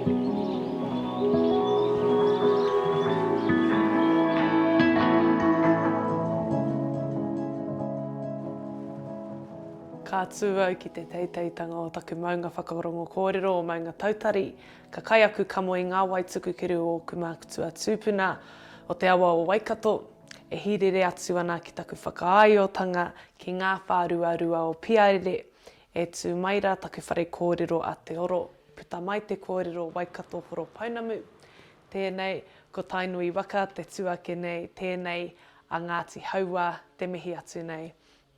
Ka tū au ki te teiteitanga o taku maunga whakarongo kōrero o Maunga Tautari, ka kai aku kamo i ngā wai tukukiru o ōku mākutua tūpuna o te awa o Waikato, e hīrere atu ana ki taku whakaaeotanga ki ngā whāruarua o Piarere, E tū mai rā taku whare kōrero a Te Oro, puta mai te kōrero Waikato Horopounamu. Tēnei, ko Tainui waka te tū ake nei, tēnei a Ngāti Hauā te mihi atu nei.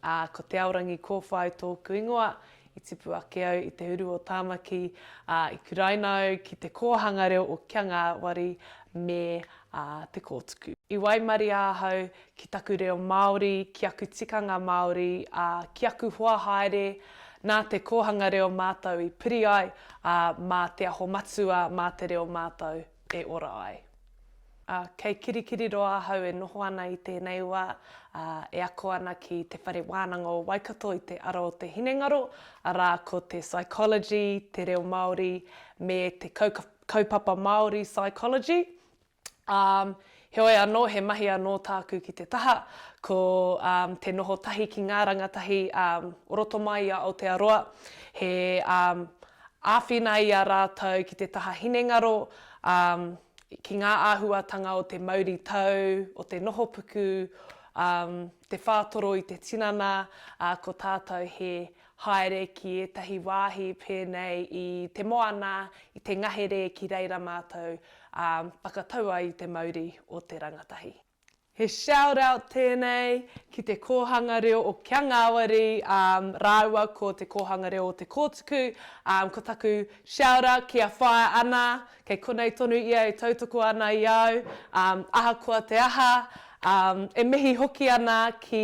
Ā, ko Te Aorangi Kōwhai tōku ingoa, i tipu ake au i te uru o Tāmaki, ā, i kuraina au ki te kōhanga reo o Kia Ngāwari me Te Kōtuku. I waimarie ahau ki taku reo Māori, ki aku tikanga Māori, ā, ki aku hoa haere, nā te kōhanga reo mātou i piri ai, ā, mā Te Aho Matua, mā te reo mātou e ora ai. Ā, kei Kirikiriroa ahau e noho ana i tēnei wā, ā, e ako ana ki Te Whare Wānanga o Waikato i te ara o te hinengaro, arā, ko te Psychology, te reo Māori, me te Kaupapa Māori Psychology. Um, heoi anō, he mahi anō tāku ki te taha, ko um, te noho tahi ki ngā rangatahi um, o roto mai i a Aotearoa, he um, āwhina i a rātou ki te taha hinengaro, um, ki ngā āhuatanga o te mauri tau, o te noho puku, um, te whātoro i te tinana, uh, ko tātou he Haere ki ētahi wāhi pēnei i te moana, i te ngahere ki reira mātou, ā, whakatau ai i te mauri o te rangatahi. He shout out tēnei ki te Kōhanga Reo o Kia Ngāwari rāua ko Te Kōhanga Reo o Te Kōtuku, ā, ko taku shout out ki a Whaea Ana, kei konei tonu ia e tautoko ana i au, ā, ahakoa te aha, ā, e mihi hoki ana ki